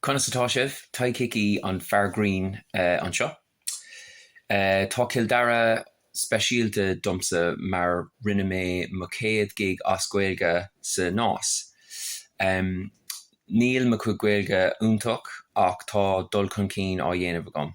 Conas atá sibh? Tadhg Hickey an fear grinn anseo. Tá Cill Dara speisialta domsa mar rinne mé mo chéad gig as Gaeilge sa Nás. Níl mo chuid Gaeilge iontach ach tá dul chun cinn á dhéanamh agam.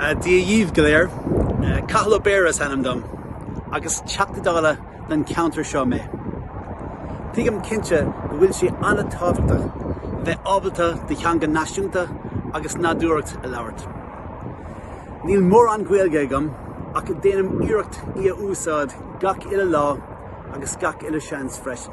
Dia dhíbh go léir. Cathal Ó Béarra is ainm dom agus Teachta Dála don cheantar seo mé. Tuigim cinnte go bhfuil sé an-tábhachtach bheith ábalta do theanga náisiúnta agus nádúrtha a labhairt. Níl mórán Gaeilge agam ach déanaim iarracht í a úsáid gach uile lá agus gach uile seans freisin.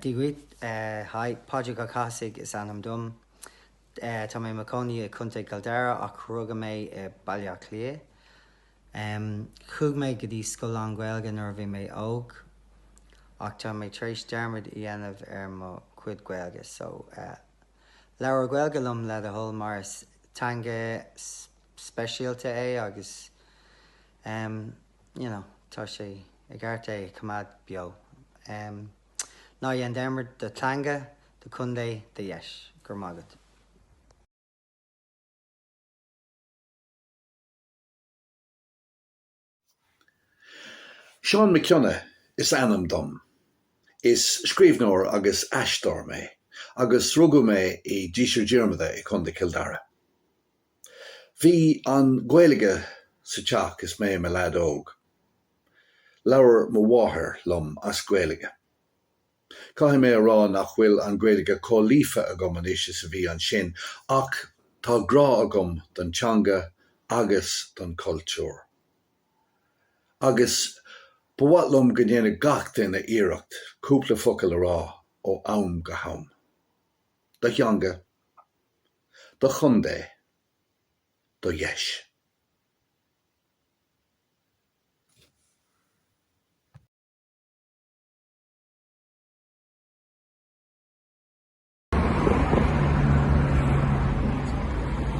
Dia dhuit, haigh, Pádraig Ó Cathasaigh is ainm dom. Tá mé i mo chónaí i Contae Chill Dara ach rugadh mé i Baile Átha Cliath. Chuaigh mé go dtí scoil lán-Ghaeilge nuair a bhí mé óg ach tá mé tar éis dearmad a dhéanamh ar mo chuid Gaeilge so labhair Gaeilge liom le do thoil mar is teanga speisialta é agus em you know tá sé i gceart é a choimeád beo em ná dhéan dearmad do theanga do chontae do dheis go raibh maith agat. Seán Mac Cionnaith is ainm dom. Is scríbhneoir agus aisteoir mé, agus rugadh mé i Díseart Diarmada i Contae Cill Dara. Bhí an Ghaeilge sa teach is mé i mo leaid óg. Labhair mo mháthair liom as Gaeilge. Caithfidh mé a rá nach bhfuil an Ghaeilge chomh líofa agam anois is a bhí ansin ach tá grá agam don teanga agus don chultúr. Agus ba mhaith liom go ndéanfadh gach duine iarracht cúpla focal a rá ó am go ham. Do theanga. do chontae do dheis.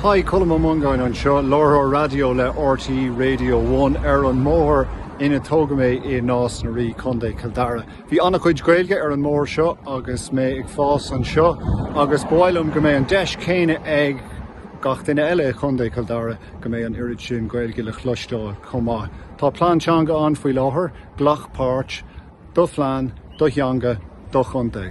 Hi, Colm Ó Mongáin anseo, láithreoir raidió le RTÉ Radio One ar an mbóthar ina tógadh mé i Nás na Rí, Contae Chill Dara. Bhí an-chuid Gaeilge ar an mbóthar seo agus mé ag fás anseo agus ba mhaith liom go mbeidh an deis céanna ag gach duine eile i gContae Chill Dara go mbeidh an oiread sin Gaeilge le chloisteáil chomh maith. Tá plean teanga ann faoi láthair, glac páirt, do phlean, do theanga, do chontae.